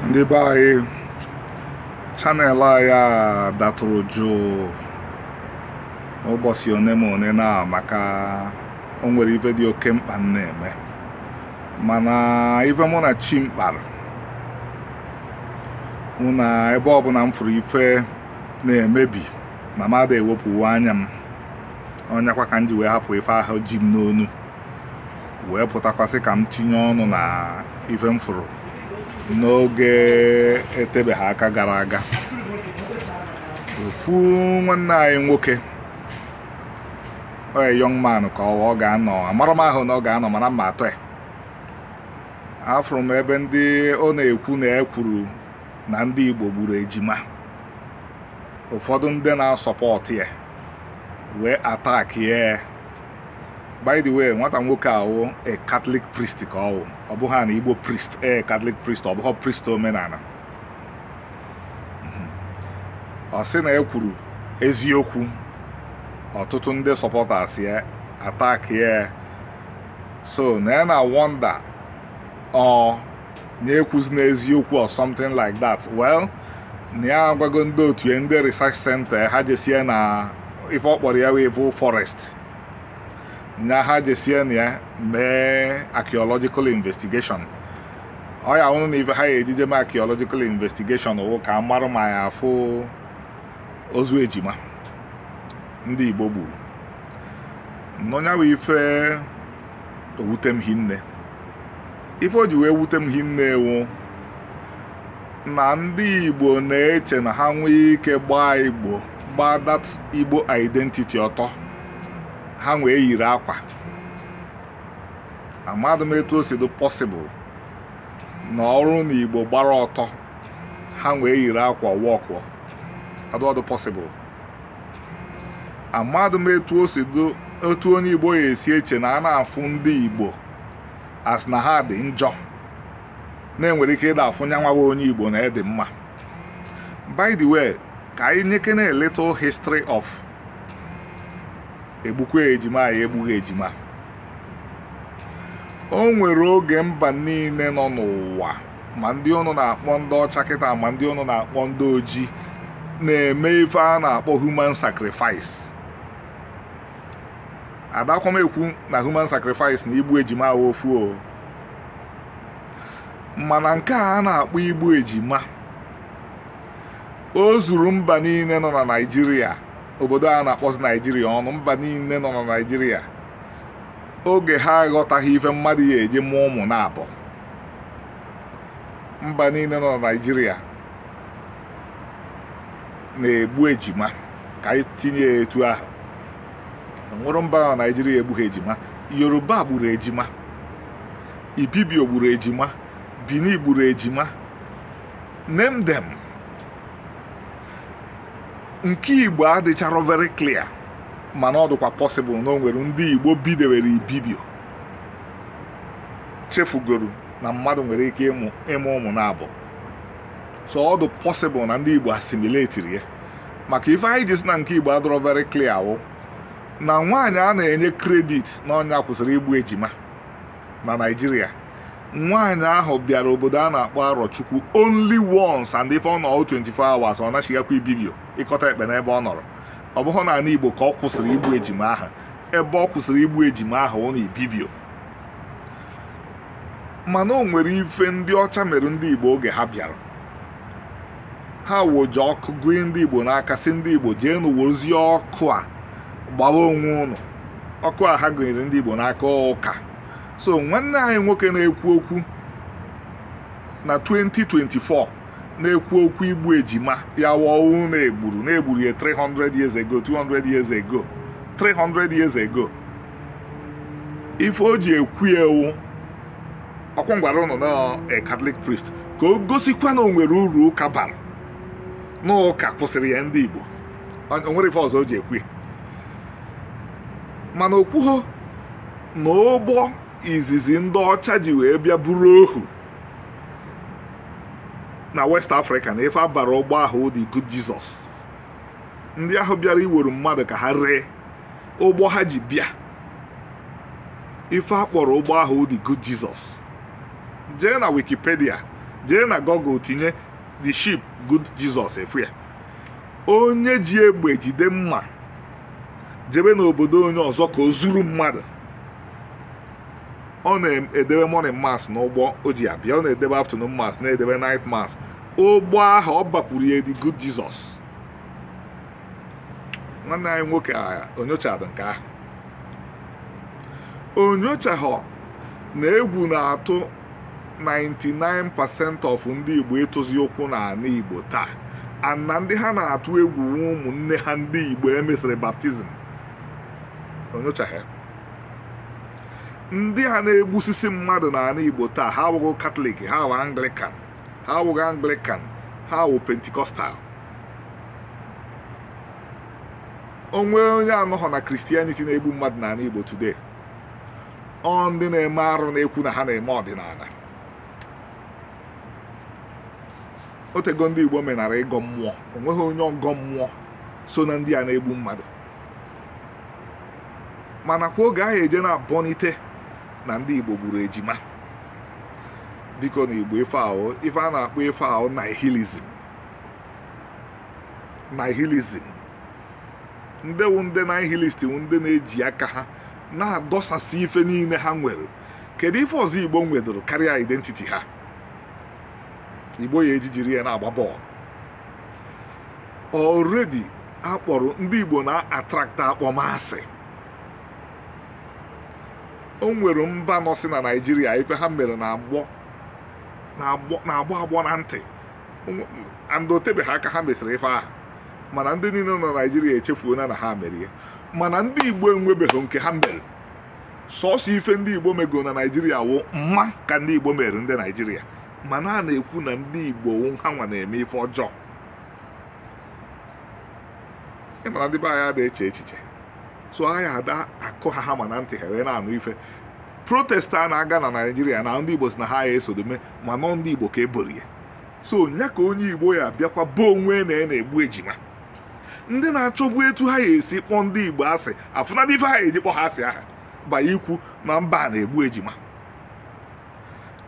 ndị be anyị channel anyị a datụrụ jụụ ụbọchị one ma one na maka o nwere ife dị oke mkpa m na-eme mana ife mụ na chi m kpara wụ na ebe ọbụla m fụrụ ife na-emebi na m ada ewepụwo anya m ọ nyakwa ka m ji wee hapụ ife ahụ ji m n'onu wee pụtakwasị ka m tinye ọnụ na ife m fụrụ n'oge etebeghị aka gara aga ofu nwanne anyị nwoke oye young man ka ọ ga-anọ amara m ahụ na ọ ga-anọ mana mma atọ ya afụrụ m ebe ndị ọ na-ekwu na ya kwuru na ndị Igbo gburu ejima ụfọdụ ndị na-asupport ya wee attack ya by the way nwata nwoke ahụ a Catholic priest ka ọ wụ ọ bụghị an Igbo priest ee Catholic priest ọ bụghị priest omenala mhm. ọ sị na e kwuru eziokwu ọtụtụ ndị supporters ya attack ya so na ya na-wonder ọ nya ekwuzina eziokwu or something like that well na ya agwago ndị otu ya ndị research center ha jesie na ife ọ kpọrọ ya evil forest nya ha jesie na ya mee archaeological investigation ọ ya wụnụ na ife ha ya-eji je mee archaeological investigation wụ ka a mara ma a ya-afụ ozu ejima ndị Igbo gburu nọnyawa ife o wute m hinne ife o ji wee wute m hinne wụ na ndị Igbo na-eche na ha nwee ike gbaa Igbo gbaa that Igbo identity ọtọ ha nwee yiri akwa amadụ m etu o si dị possible na ọrụ na Igbo gbara ọtọ ha nwee yiri akwa wọkụ adọdụ possible amadụ m etu o si dị otu onye Igbo ya-esi eche na a na-afụ ndị Igbo as na ha dị njọ na e nwere ike ịda afụ nya nwa bụ onye Igbo na ya dị mma by the way ka anyị nyekene a little history of egbukwe ejima ya egbughị ejima o nwere oge mba niile nọ n'ụwa ma ndị ụnụ na-akpọ ndị ọcha kịta ma ndị ụnụ na-akpọ ndị ojii na-eme ife a na-akpọ human sacrifice adakwa m ekwu na human sacrifice na igbu ejima wụ ofu o mana nke a a na-akpọ igbu ejima o zuru mba niile nọ na naijiria obodo a na-akpọzi naijiria ọnụ mba niile nọ na naijiria oge ha aghọtaghị ife mmadụ ya-eji mụọ ụmụ naabọ mba niile nọ na naijiria na-egbu ejima ka anyị tinye ya etu ahụ nwerọ mba na naijiria egbughị ejima yoruba gburu ejima ibibio gburu ejima bini gburu ejima name them nke igbo adịcharọ very clear mana ọ dịkwa possible na o nwere ndị igbo bidewere ibibio chefugoro na mmadụ nwere ike ịmụ ụmụ naabọ so ọ dị possible na ndị igbo asimiletiri ya maka ife anyị ji si na nke igbo adịrọ very clear wụ na nwaanyị a na-enye credit na ọ nya kwụsịrị igbu ejima na naijiria nwaanyị ahụ bịara obodo a na-akpọ arọchukwu only once and ife ọ nọ 24 hours ọ nachighakwa ibibio ikot ekpene ebe ọ nọrọ ọ bụghị na ala igbo ka ọ kwụsịrị igbu ejima ahụ ebe ọ kwụsịrị igbu ejima ahụ wụ na ibibio mana o nwere ife ndị ọcha mere ndị igbo oge ha bịara ha wụ iji ọkụ gụnye ndị igbo n'aka sị ndị igbo jeenụ wezie ọkụ a gbawa onwe ụnụ ọkụ a ha gụnyere ndị igbo n'aka wụ ụka so nwanne anyị nwoke na-ekwu okwu na 2024 na-ekwu okwu igbu ejima ya wọwụ na e gburu na e gburu ya 300 years ago 200 years ago 300 years ago ife o ji ekwu ya wụ ọkwa m gwara ụnụ na eh, Catholic priest ka o gosikwa na o nwere uru ụka bara na ụka kwụsịrị ya ndị Igbo o nwerọ ife ọzọ o ji ekwu ya mana o kwuho na ụgbọ izizi ndị ọcha ji wee bịa buru ohu na West Africa na ife a bara ụgbọ ahụ the Good Jesus ndị ahụ bịara iwere mmadụ ka ha ree ụgbọ ha ji bịa ife a kpọrọ ụgbọ ahụ the good Jesus jee na wikipedia jee na google tinye the ship good Jesus ị fụ ya onye ji egbe jide mma jebe n'obodo onye ọzọ ka o zuru mmadụ ọ na-edebe morning mass n'ụgbọ o ji abịa ọ na-edebe afternoon mass na-edebe night mass ụgbọ ahụ ọ bakwuru ya the good Jesus nwanne anyị nwoke a o nyochadụ nke ahụ o nyochahụ na egwu na-atụ 99% of ndị Igbo ịtụzi ụkwụ n'ana Igbo taa and na ndị ha na-atụ egwu wụ ụmụnne ha ndị Igbo e mesịrị baptizim o nyochaghị ndị ha na-egbusisi mmadụ n'ana Igbo taa ha awụghị Katọlik ha awụghị Anglikan ha awụghị anglikan ha awụ pentikọstal o nweghị onye anọghọ na Christianity na-egbu mmadụ n'ana igbo today ọ ndị na-eme arụ na-ekwu na ha na-eme ọdịnana o tego ndị igbo menara ịgọ mmụọ o nweghị onye ọgọ mmụọ so na ndị a na-egbu mmadụ ma nakwa oge ahụ eje na-abọnite na ndị Igbo gburu ejima biko na Igbo ife a ife a na-akpọ ife a nihilism nihilism ndị wụ ndị nihilist wụ ndị na-eji aka ha na-adọsasị ife niile ha nwere kedu ife ọzọ Igbo nwedoro karịa identity ha Igbo ya eji jiri ya na-agba bọọlụ already a kpọrọ ndị Igbo na-attract akpọmasị o nwere mba nọsi na naijiria ife ha mere na-agbọ agbọ na ntị and o tebeghị aka ha mesịrị ife ahụ mana ndị niile nọ na naijiria echefuona na ha mere ya mana ndị igbo enwebeghị nke ha mere sọsọ ife ndị igbo mego na naijiria wụ mma ka ndị igbo mere ndị naijiria mana a na-ekwu na ndị igbo ha nwa na-eme ife ọjọọ ị ma na ndị be anyị ada eche echiche so anyị ada akụ ha hammer na ntị ha wee na-anụ ife protest a na-aga na naijiria na ndị igbo sị na ha ya esodome mana ọ ndị igbo ka e boro ya so nya ka onye igbo ya bịakwa boo onwe nya na-egbu ejima ndị na-achọgbu etu ha ya esi kpọọ ndị igbo asị afụnadị ife ha ya eji kpọọ ha asị aha ba ikwu na mba na-egbu ejima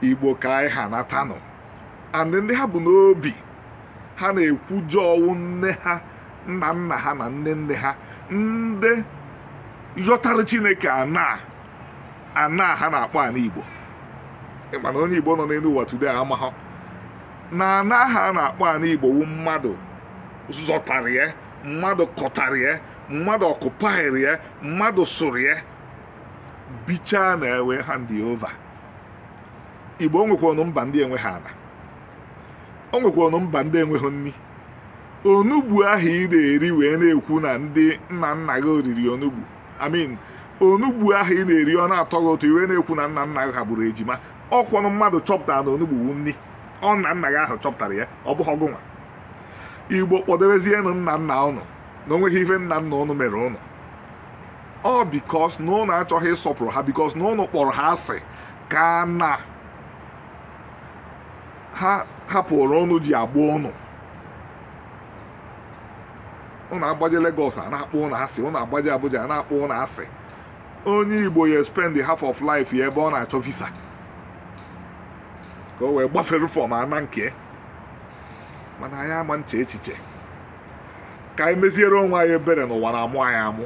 igbo ka anyị ha natanụ and ndị ha bu n'obi ha na-ekwujọ wụ nne ha nna nna ha na nne nne ha ndị yọtara chineke ana ana ha na-akpọ ana igbo ị ma na onye igbo nọ n'elu ụwa today amahọ na ana ha na-akpọ ana igbo wụ mmadụ zọtara ya mmadụ kọtara ya mmadụ occupyrị ya mmadụ sụrụ ya bichaa na e wee hand over igbo o nwekwanụ mba ndị enweghị ana o nwekwanụ mba ndị enweghị nri onugbu ahụ ị na-eri wee na-ekwu na ndị nna nna gị oriri onugbu I mean onugbu ahụ ị na-eri ọ na-atọ gị ụtọ i wee na-ekwu na nna nna gị ha gburu ejima ọ kwanụ mmadụ chọpụtara na onugbu wu nni ọ nna nna gị ahụ chọpụtara ya ọ bụhọ gụnwa igbo kpọdebezienụ nna nna ụnụ na o nweghị ife nna nna ụnụ mere ụnụ ọ because na ụnụ achọghị ịsọpụrụ ha because na ụnụ kpọrọ ha asị ka na ha hapụrụ ụnụ ji agba ụnụ ụnụ agbaje Lagos a na-akpọ ụnụ asị ụnụ agbaje Abuja a na-akpọ ụnụ asị onye Igbo ya spend half of life ya ebe ọ na-achọ visa ka o wee gbafere from ana nke mana anyị ama na-eche echiche ka anyị meziere onwe anyị ebere n'ụwa na-amụ anyị amụ